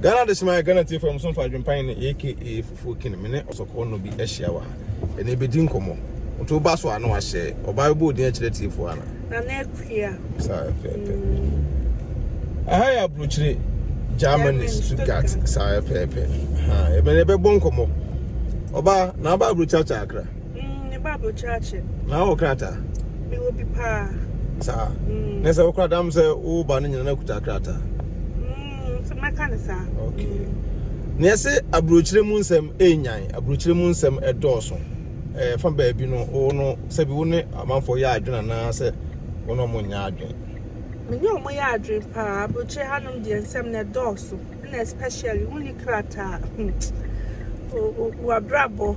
ghana de sima ghana tie fam so mfa adwempan ne aka fufuo kene me ne ɔsɔkɔɔ no bi ahyia wɔ ha ɛne bɛdi nkɔmmɔ nti woba so a na wahyɛ ɔbaa bɛbɔ odin akyerɛ tiefoɔ ana nana akua saa pɛpɛ aha yɛ aburokyire germany stuttgart saa pɛpɛ ha ɛbɛne ɛbɛbɔ nkɔmmɔ ɔbaa na aba aburokyakya akra Mm, ne Bible kyerɛkyerɛ. Na wɔ krataa? Me wɔ bi paa. Saa. Mm. Na sɛ wo krataa m sɛ wo ba no nyina no akuta krataa. Mm, so mɛka ne saa. Okay. Mm. Na ɛsɛ aburokyire mu nsɛm ɛnyan, aburokyire mu nsɛm ɛdɔɔso. Ɛɛ fa baabi no wo no sɛbi wo ne amanfoɔ yɛ adwene anaa sɛ wo ne ɔmo nyɛ adwene. Me ne ɔmo yɛ adwene paa, aburokyire hanom deɛ nsɛm na ɛdɔɔso, ɛna especially wo ne krataa. Hmm. Wabrabɔ.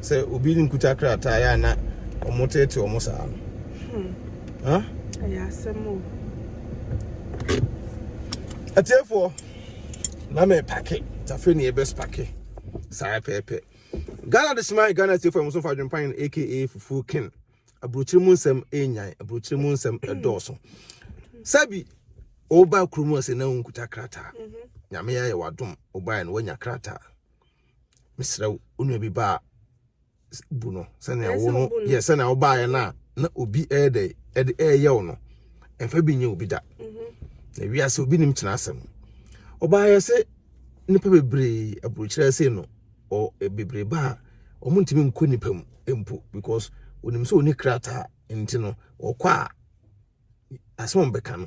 sɛ obi nkuta krataa yɛ a na wɔn tete wɔn saa no. Hmm. Ɛyɛ asɛm o. Atiefoɔ, na mɛ pake, tafe ne ɛbɛs pake, saa pɛɛpɛ. Ghana de sima Ghana atiefoɔ ɛmo so fa adwempan aka fufuo ken. Aburokyire mu nsɛm ɛnyan, aburokyire mu nsɛm ɛdɔɔso. Sɛbi, ɔba kurom ase na nkuta krataa. Mhm. Nyame ayɛ wadom, ɔbaeɛ no wanya krataa. mesrɛ wo wo nua bi ba a bu no sɛnea wo no yɛ sɛnea wobaeɛ no a na obi ɛyɛ dɛ ɛde ɛyɛ wo no ɛmfa bi nyɛ obi da mhm. na wiase obi nim kyena asɛm ɔbaeɛ sɛ nnipa bebree aburokyerɛ sei no ɔ e, bebree ba a wɔn ntumi nkɔ nnipa mu mpo because onim sɛ oni krataa nti no ɔkɔ a asɛm bɛka no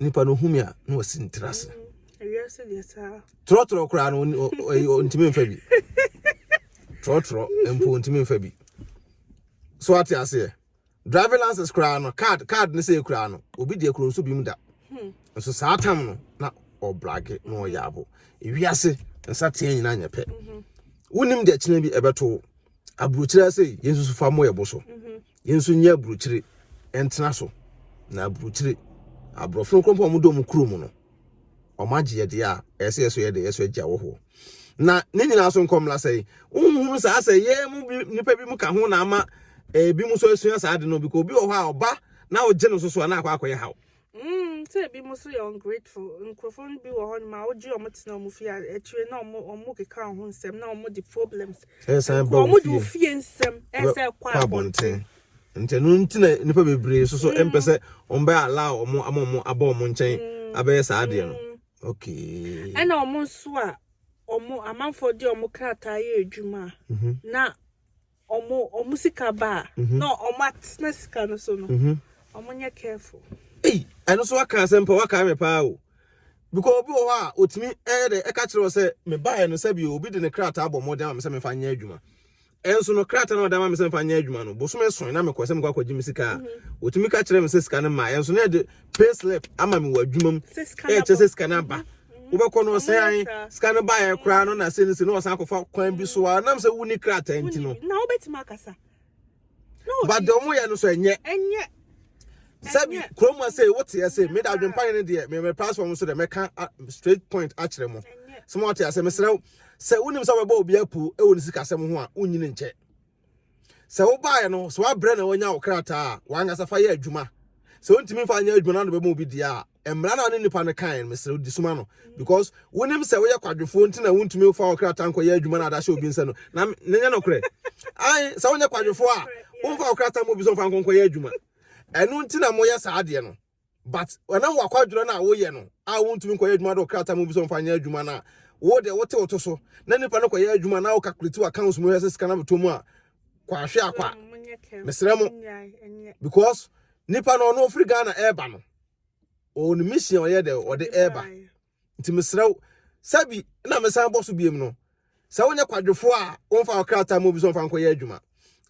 nipa no hu me a na wasi ne tiri ase trɔtrɔ koraa no ntumi mfa bi trɔtrɔ mpo ntumi mfa bi so ate aseɛ driving license koraa no card card ne sɛ koraa no obi deɛ kuro nso bi mu da hmm. nso saa tam no na ɔbrage na ɔyɛ abo ewiase nsa teɛ nyinaa nyɛ pɛ mhm. wonim deɛ kyena bi ɛbɛto aburokyerɛ sɛ yɛn nso fa mmɔ yɛ bo so mhm. Yɛn nso nyɛ aburukyire ntena so na aburukyire aborɔfo no nkorɔmpo a wɔdɔ mu kuro mu no wɔn agye yɛde a ɛyɛ sɛ yɛsɔ yɛde yɛsɔ agya wɔ hɔ na ne nyinaa so nkɔmmla sɛ nhunu saa sɛ yɛn mu bi nipa bi mu ka ho na ama ebi mu nso asua saa de no bi ka obi wɔ hɔ a ɔba na ɔgye no so so a na akɔ akɔyɛ haw Mm, sɛ ebi mo so yɛ ungrateful. Nkurɔfoɔ no bi wɔ hɔ nom a wogye wɔn tena wɔn fie a akyire na wɔn wɔn keka wɔn ho nsɛm na wɔn de problems. Ɛsan Ɛkɔ ba wɔn de ofie. ofie nsɛm ɛsɛ kɔ kɔ abɔnten. abɔnten nti ɛno nti na nnipa bebree so so ɛmpɛ sɛ ɔmbɛ allow ɔmo ama ɔmo abɔ ɔmo nkyɛn abɛyɛ saa adeɛ no Mm. okay Ɛna wɔn nso a wɔn amanfoɔ de wɔn krataa yɛ adwuma a, Mhm. na ɔmo ɔmo sika ba a mhm. na ɔmo atena sika no so no mhm. ɔmo nyɛ careful. eyi ɛno so waka asɛm pa waka me paa o because obi wɔ hɔ a otumi ɛyɛ dɛ ɛka kyerɛ wɔ sɛ me baeɛ no sɛbi obi de ne krataa bɔ mmɔden ama me sɛ mefa nyɛ adwuma ɛnso no krataa na ɔde ama me sɛ mefa nyɛ adwuma no bosom ɛsɔn na mekɔ sɛ mekɔ akɔgye me sika a otumi mhm. ka kyerɛ me sɛ sika no ma ɛnso na ɛde pay slip ama me wɔ adwuma mu ɛkyɛ sɛ sika no aba wobɛkɔ no ɔsɛ an sika no baeɛ koraa no na sɛ no sɛ ne ɔsan akɔfa kwan bi so a nam sɛ wonni krataa nti no na wobɛtumi akasa but deɛ ɔmo yɛ no so ɛnyɛ ɛnyɛ sɛbi kurom a sɛ woteɛ sɛ meda adwempa no deɛ meme platform so dɛ mɛka straight point akyerɛ mo sɛ mo ɔte asɛ mesrɛ sɛ wonim sɛ wobɛbɔ obi apu ɛwɔ ne sikasɛm ho a wonyini nkyɛ Sɛ wobaeɛ no, sɛ woabrɛ na wanya wo krataa a, w'ankasa fa yɛ adwuma. Sɛ wontumi mfa nyɛ adwuma na bɛma obi deɛ a, mmara no a ne nipa no kaeɛ no, mesrɛ wo, di soma no. Because wonim sɛ woyɛ kwadwofoɔ nti na wontumi mfa wo krataa nkɔyɛ adwuma no a de ahyɛ obi nsa no. Na ne nyɛ nokorɛ. Ae, sɛ wonyɛ kwadwofoɔ a, womfa wo krataa mma obi sɛ ɔmfa nkɔ nkɔyɛ adwuma. Ɛno nti na moyɛ saa adeɛ no. but ɛnam wakwadwerɛ no a woyɛ no a wontumi nkɔyɛ adwuma de ɔkrataa mu bi sɛ ɔmfa nyɛ adwuma no a wo deɛ wote wo to so na nipa no kɔyɛ adwuma na wokakulati w'accounts mu hwɛ sɛ sika no abɛtɔ mu a kwahwe akwa mesrɛ mo because nipa no ɔno ɔfiri ghana ɛreba no ɔwɔ ne mission ɔyɛ dɛ ɔde ɛreba Nti mesrɛ wo sɛ bi na mesan bɔ so biom no, sɛ wonyɛ kwadwofoɔ a, womfa wo krataa ma obi sɛ ɔmfa nkɔyɛ adwuma.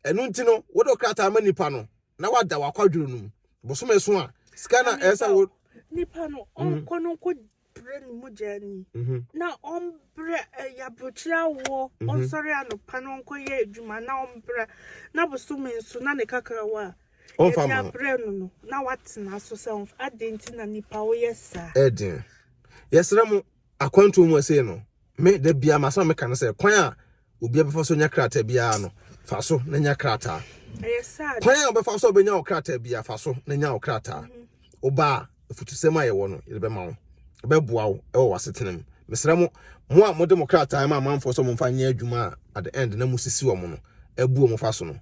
Ɛno nti no, wode wo krataa ma nipa no na wada wo akwadworo no mu. Bosome so a, sika na ɛyɛ sɛ wo. Nipa no, mhm. ɔnkɔ no nkɔ brɛ ne mogya ni. Mhm. Na ɔmbrɛ ɛyɛ eh, aburokyerɛ awoɔ, mhm. ɔnsɔre anɔpa na ɔnkɔyɛ adwuma na ɔmbrɛ na bosome nso na ne kakrawa a. Ɔmfa ma no. Brɛ no no na watena so sɛ ɔmfa. Adɛn nti na nipa woyɛ saa? Ɛden. Yɛsrɛ mo akwantuo mu ɛsei no, me da biara masɛm a meka no sɛ kwan a obiara bɛfa so nya krataa biara no, fa so na nya krataa. Kwan a wobɛfa so a wobɛnya wo krataa biara, fa so na nya wo krataa. Mhm. Woba a, afutusɛm a yɛwɔ no, yɛde bɛma wo. Ɛbɛboa wo wɔ w'asetena mu. Mesrɛ mo, mo a mode mo krataa ma amanfoɔ sɛ wɔmfa nyɛ adwuma a at the end na mosisi wɔn no, abu wɔn fa so no,